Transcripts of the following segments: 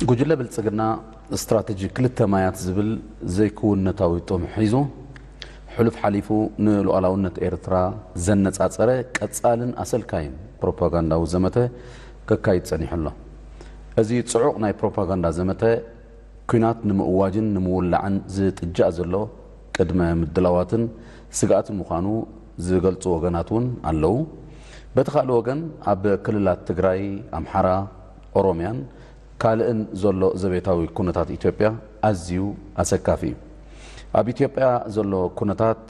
ጉጅለ ብልፅግና ስትራቴጂ ክልተ ማያት ዝብል ዘይክውንነታዊ ጥም ሒዙ ሕሉፍ ሓሊፉ ንሉኣላውነት ኤርትራ ዘነፃፀረ ቀፃልን ኣሰልካይን ፕሮፓጋንዳዊ ዘመተ ከካይድ ፀኒሑ ኣሎ። እዚ ፅዑቕ ናይ ፕሮፓጋንዳ ዘመተ ኲናት ንምእዋጅን ንምውላዕን ዝጥጃእ ዘሎ ቅድመ ምድላዋትን ስግኣትን ምዃኑ ዝገልፁ ወገናት እውን ኣለዉ። በቲ ካልእ ወገን ኣብ ክልላት ትግራይ፣ ኣምሓራ፣ ኦሮምያን ካልእን ዘሎ ዘቤታዊ ኩነታት ኢትዮጵያ ኣዝዩ ኣሰካፊ እዩ። ኣብ ኢትዮጵያ ዘሎ ኩነታት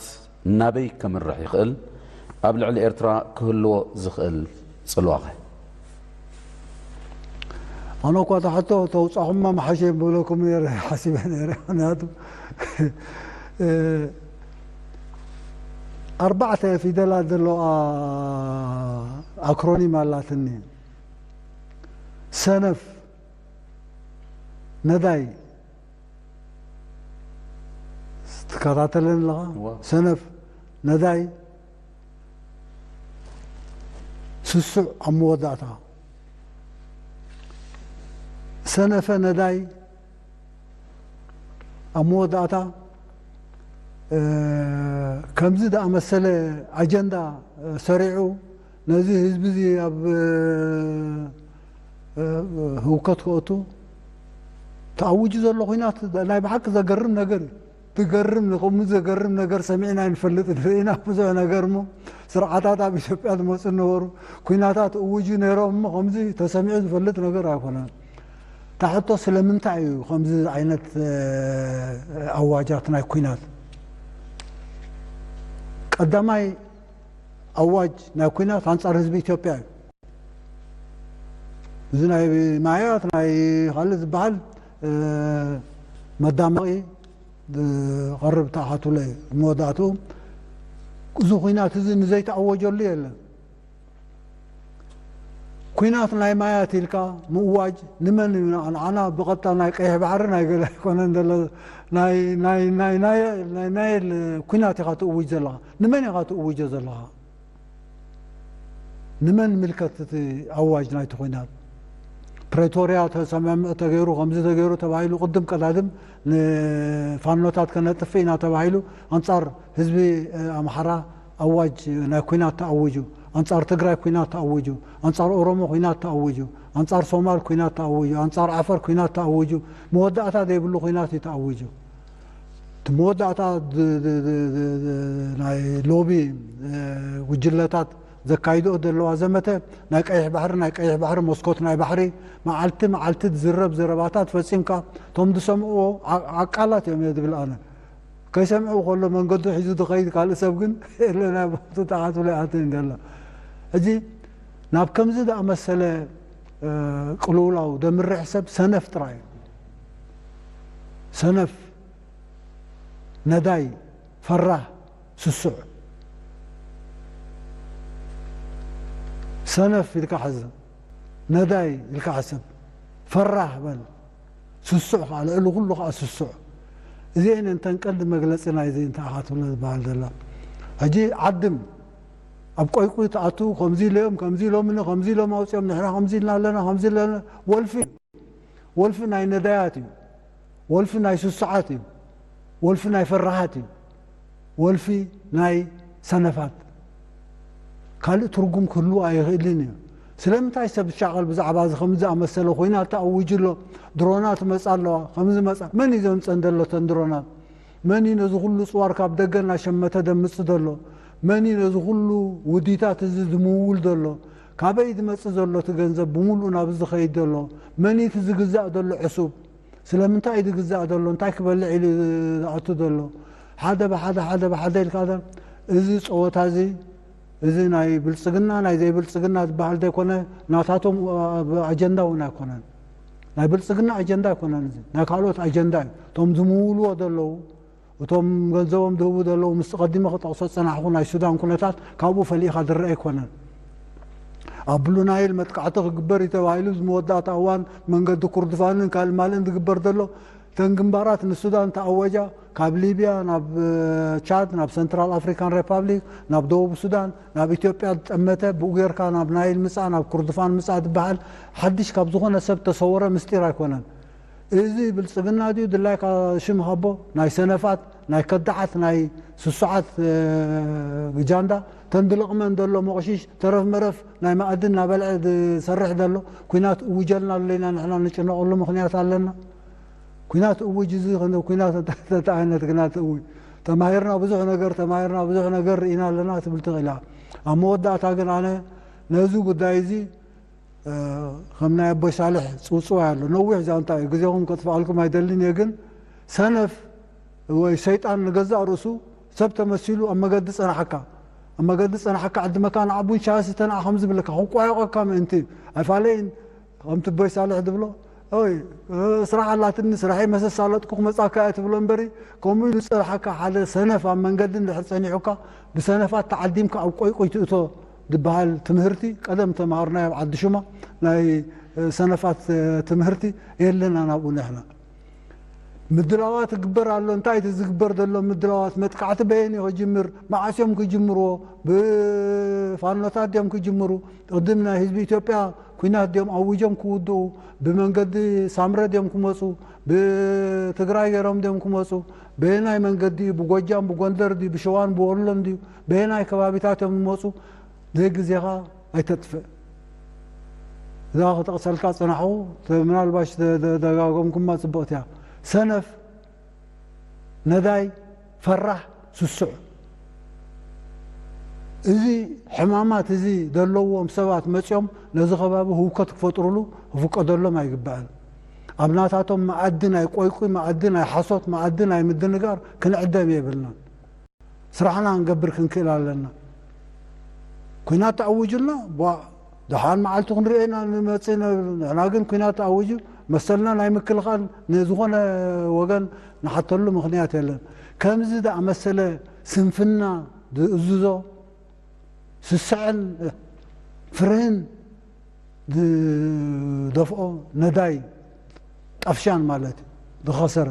ናበይ ከምርሕ ይኽእል? ኣብ ልዕሊ ኤርትራ ክህልዎ ዝኽእል ጽልዋኸ? ኣነ እኳ እታ ሕቶ ተውጻኹማ ምሓሸ ምብለኩም ነይረ ሓሲበ ነይረ ምክንያቱ ኣርባዕተ ፊደላት ዘለዋ ኣክሮኒም ኣላትኒ። ሰነፍ ነዳይ ትከታተለን ኣለኻ ሰነፍ ነዳይ ስሱዕ ኣብ መወዳእታ ሰነፈ ነዳይ ኣብ መወዳእታ ከምዚ ዝኣመሰለ ኣጀንዳ ሰሪዑ ነዚ ህዝቢ እዚ ኣብ ህውከት ከእቱ ተኣውጁ ዘሎ ኩናት ናይ ብሓቂ ዘገርም ነገር እዩ ትገርም ንከምኡ ዘገርም ነገር ሰሚዕና ኣይንፈልጥን ርኢና ብዙሕ ነገር እሞ ስርዓታት ኣብ ኢትዮጵያ ዝመፁ ነበሩ ኩናታት እውጁ ነይሮም እሞ ከምዚ ተሰሚዑ ዝፈልጥ ነገር ኣይኮነን እታ ሕቶ ስለምንታይ እዩ ከምዚ ዓይነት ኣዋጃት ናይ ኩናት ቀዳማይ ኣዋጅ ናይ ኩናት ኣንጻር ህዝቢ ኢትዮጵያ እዩ። እዚ ናይ ማያት ናይ ካልእ ዝበሃል መዳመቒ ዝቐርብ ተኣኻትሎ እዩ። መወዳእትኡ እዚ ኩናት እዚ ንዘይተኣወጀሉ የለን። ኩናት ናይ ማያት ኢልካ ምእዋጅ ንመን እዩ ንዓና ብቐጥታ ናይ ቀይሕ ባሕሪ ናይ ገለ ኣይኮነን ዘሎ ናይ ኩናት ኢኻ ትእውጅ ዘለኻ ንመን ኢኻ ትእውጆ ዘለኻ? ንመን ንምልከት እቲ ኣዋጅ ናይቲ ኹናት? ፕረቶርያ ተሰማምዕ ተገይሩ ከምዚ ተገይሩ ተባሂሉ ቅድም ቀዳድም ንፋኖታት ከነጥፍእ ኢና ተባሂሉ ኣንጻር ህዝቢ ኣምሓራ ኣዋጅ ናይ ኹናት ተኣዊጁ፣ ኣንጻር ትግራይ ኹናት ተኣዊጁ፣ ኣንጻር ኦሮሞ ኹናት ተኣዊጁ፣ ኣንጻር ሶማል ኹናት ተኣዊጁ፣ ኣንጻር ዓፈር ኹናት ተኣዊጁ፣ መወዳእታ ዘይብሉ ኹናት እዩ ተኣዊጁ። እቲ መወዳእታ ናይ ሎቢ ጉጅለታት ዘካይድኦ ዘለዋ ዘመተ ናይ ቀይሕ ባሕሪ ናይ ቀይሕ ባሕሪ መስኮት ናይ ባሕሪ መዓልቲ መዓልቲ ዝዝረብ ዘረባታት ፈጺምካ እቶም ዝሰምዕዎ ዓ- ዓቃላት እዮም እየ ዝብል ኣነ ከይሰምዑ ከሎ መንገዱ ሒዙ ዝኸይድ ካልእ ሰብ ግን የለና ቦቱ ተዓጽሎ ይኣትን ገለ ሕጂ ናብ ከምዚ ዝኣመሰለ እ፣ ቅልውላው ዘምርሕ ሰብ ሰነፍ ጥራይ እዩ ሰነፍ ነዳይ ፈራህ ስሱዕ ሰነፍ ኢልካ ሕዝ ነዳይ ኢልካ ሕሰብ ፈራህ በል ስሱዕ ከኣ ልዕሊ ኩሉ ከኣ ስሱዕ እዚኤን እየን እተን ቀንዲ መግለጺ ናይዚ እንታይ ኢኻ ትብሎ ዝበሃል ዘሎ ሕጂ ዓድም ኣብ ቆይቁይ ትኣቱ ከምዚ ኢሎም ከምዚ ኢሎምኒ ከምዚ ኢሎም ኣውጺኦም ንሕና ከምዚ ኢልና ኣለና ከምዚ ኢልና ወልፊ ወልፊ ናይ ነዳያት እዩ ወልፊ ናይ ሱሱዓት እዩ ወልፊ ናይ ፈራሃት እዩ ወልፊ ናይ ሰነፋት ካልእ ትርጉም ክህልዎ ኣይኽእልን እዩ ስለምንታይ ሰብ ዝሻቐል ብዛዕባ እዚ ከምዚ ዝኣመሰለ ኮይናት ተኣዊጁ ኣሎ ድሮናት መጻ ኣለዋ ከምዚ መጻ መን እዩ ዘምጸን ዘሎ ተን ድሮናት መን እዩ ነዚ ኩሉ ጽዋር ካብ ደገ እናሸመተ ደምጽ ዘሎ መን እዩ ነዚ ኩሉ ውዲታት እዚ ዝምውል ዘሎ ካበይ ዝመጽእ ዘሎ እቲ ገንዘብ ብሙሉኡ ናብ እዚ ዝኸይድ ዘሎ? መን እዩ እቲ ዝግዛእ ዘሎ ዕሱብ? ስለምንታይ እዩ ዝግዛእ ዘሎ? እንታይ ክበልዕ ኢሉ እዩ ዝኣቱ ዘሎ? ሓደ ብሓደ ሓደ ብሓደ ኢልካ እዛ እዚ ጸወታ እዚ እዚ ናይ ብልጽግና ናይ ዘይብልጽግና ዝበሃል ዘይኮነ ናታቶም ኣጀንዳ እውን ኣይኮነን። ናይ ብልጽግና ኣጀንዳ ኣይኮነን እዚ ናይ ካልኦት ኣጀንዳ እዩ። እቶም ዝምውልዎ ዘለዉ እቶም ገንዘቦም ዝህቡ ዘለዉ ምስቲ ቀዲመ ክጠቕሶ ዝጸናሕኩ ናይ ሱዳን ኩነታት ካብኡ ፈሊኻ ዝረኣ ኣይኮነን። ኣብ ብሉ ናይል መጥቃዕቲ ክግበር እዩ ተባሂሉ እዚ መወዳእታ እዋን መንገዲ ኩርድፋንን ካልእ ማልእን ዝግበር ዘሎ እተን ግንባራት ንሱዳን ተኣወጃ ካብ ሊብያ ናብ ቻድ ናብ ሰንትራል ኣፍሪካን ሬፓብሊክ ናብ ደቡብ ሱዳን ናብ ኢትዮጵያ ዝጠመተ ብኡ ጌርካ ናብ ናይል ምጻእ ናብ ኩርድፋን ምጻእ ዝበሃል ሓድሽ ካብ ዝኾነ ሰብ ተሰወረ ምስጢር ኣይኮነን እዚ ብልጽግና ድዩ ድላይካ ሽም ሃቦ ናይ ሰነፋት ናይ ከዳዓት ናይ ስሱዓት ጃንዳ ተን ድልቕመን ደሎ ሞቕሺሽ ተረፍ መረፍ ናይ መኣዲ እናበልዐ ዝሰርሕ ደሎ ኩናት እውጀልና ኣሎ ኢና ንሕና ንጭነቐሉ ምኽንያት ኣለና ኩናት እውጅ እዚ ኩናት እንታይ ዓይነት ግናት እው ተማሂርና ብዙሕ ነገር ተማሂርና ብዙሕ ነገር ርኢና ኣለና ትብል ትኽእል እያ ኣብ መወዳእታ ግን ኣነ ነዚ ጉዳይ እዚ ከም ናይ ኣቦይ ሳልሕ ጽውጽዋይ ኣሎ ነዊሕ ዛንታ እዩ ግዜኹም ከጥፍኣልኩም ኣይደልን እየ ግን ሰነፍ ወይ ሰይጣን ንገዛእ ርእሱ ሰብ ተመሲሉ ኣብ መገዲ ጸናሓካ ኣብ መገዲ ጸናሓካ ዕድመካ ንዓቡን ሻስ ተንኣ ከም ዝብለካ ክቋየቆካ ምእንቲ ኣይፋለይን ከምቲ ቦይ ሳልሕ ዝብሎ ኦይ ስራሕ ኣላትኒ ስራሐይ መሰሳለጥኩ ክመጻካ እየ ትብሎ እምበሪ ከምኡ ኢሉ ዝጸናሓካ ሓደ ሰነፍ ኣብ መንገዲ እንድሕር ጸኒሑካ ብሰነፋት ተዓዲምካ ኣብ ቆይቁይ ትእቶ ድበሃል ትምህርቲ ቀደም ተማሃርናዮ ኣብ ዓዲ ሹማ ናይ ሰነፋት ትምህርቲ የለን ኣናብኡ ንሕና ምድላዋት እግበር ኣሎ እንታይ እቲ ዝግበር ዘሎ ምድላዋት መጥቃዕቲ በየን እዩ ክጅምር መዓስ እዮም ክጅምርዎ ብፋኖታት ድዮም ክጅምሩ ቅድም ናይ ህዝቢ ኢትዮጵያ ኩናት ድዮም ኣውጆም ክውድኡ ብመንገዲ ሳምረ ድዮም ክመፁ ብትግራይ ገይሮም ድዮም ክመፁ በየናይ መንገዲ እዩ ብጎጃም ብጎንደር ድዩ ብሸዋን ብወሎን ድዩ በየናይ ከባቢታት እዮም ዝመጹ ዘይ ግዜኻ ኣይተጥፍእ እዛ ክጠቕሰልካ ዝጸናሕኹ ምናልባሽ ደጋገምኩማ ጽብቕቲ እያ ሰነፍ ነዳይ ፈራሕ ስሱዕ እዚ ሕማማት እዚ ዘለዎም ሰባት መፅኦም ነዚ ከባቢ ህውከት ክፈጥሩሉ ክፍቀደሎም ኣይግባእን። ኣብ ናታቶም መኣዲ ናይ ቆይቁይ መኣዲ ናይ ሓሶት መኣዲ ናይ ምድንጋር ክንዕደም የብልናን። ስራሕና ክንገብር ክንክእል ኣለና። ኩናት ተኣዊጁልና ቧእ ደሓን መዓልቱ ክንሪኦ ኢና ንመጽእ ነብል ንሕና ግን ኩናት ተኣዊጁ መሰልና ናይ ምክልኻል ንዝኾነ ወገን ንሓተሉ ምኽንያት የለን። ከምዚ ዝኣመሰለ ስንፍና ዝእዝዞ ስስዐን ፍርህን ዝደፍኦ ነዳይ ጠፍሻን ማለት እዩ ዝኸሰረ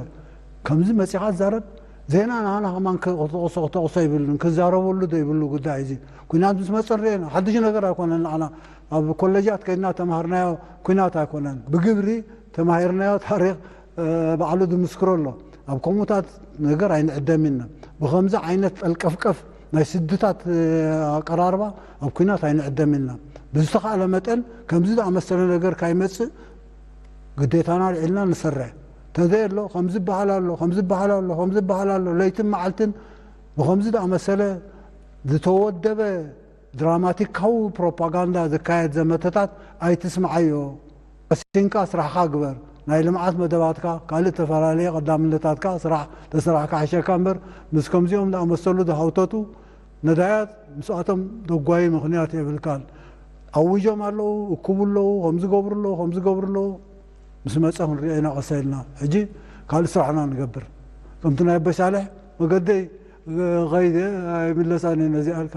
ከምዚ መጺኻ ትዛረብ ዜና ንዓና ከማን ክተቕሶ ክተቕሶ ኣይብልን ክዛረበሉ ዶ ይብሉ ጉዳይ እዚ ኩናት ምስ መጸ ንርኤና ሓድሽ ነገር ኣይኮነን ንዓና ኣብ ኮለጃት ከይድና ተማሃርናዮ ኩናት ኣይኮነን ብግብሪ ተማሂርናዮ ታሪኽ ባዕሉ ዝምስክሮ ኣሎ ኣብ ከምኡታት ነገር ኣይንዕደም ኢልና ብኸምዚ ዓይነት ጸልቀፍቀፍ ናይ ስድታት ኣቀራርባ ኣብ ኩናት ኣይንዕደም ኢልና ብዝተኻእለ መጠን ከምዚ ዝኣመሰለ ነገር ካይመጽእ ግዴታና ኣልዒልና ንሰርሕ ተዘየሎ ከምዚ በሃል ኣሎ ከምዚ በሃል ኣሎ ከምዚ በሃል ኣሎ ለይትን መዓልትን ብኸምዚ ዝኣመሰለ ዝተወደበ ድራማቲካዊ ፕሮፓጋንዳ ዝካየድ ዘመተታት ኣይትስምዓዮ ቀሲንካ ስራሕኻ ግበር ናይ ልምዓት መደባትካ ካልእ ተፈላለየ ቀዳምነታትካ ስራሕ ተስራሕ ክሓሸካ እምበር ምስ ከምዚኦም ዝኣመሰሉ ዝሃውተቱ ነዳያት ምስኣቶም ደጓዪ ምኽንያት የብልካን ኣዊጆም ኣለዉ እኩቡ ኣለዉ ከምዚ ገብሩ ኣለዉ ከምዚ ገብሩ ኣለዉ ምስ መጸ ክንሪኦ ኢና ቀሰ ኢልና ሕጂ ካልእ ስራሕና ንገብር ከምቲ ናይ ኣበሻልሕ መገደይ ኸይደ ኣይምለሳን እየ ነዚኣ ኢልካ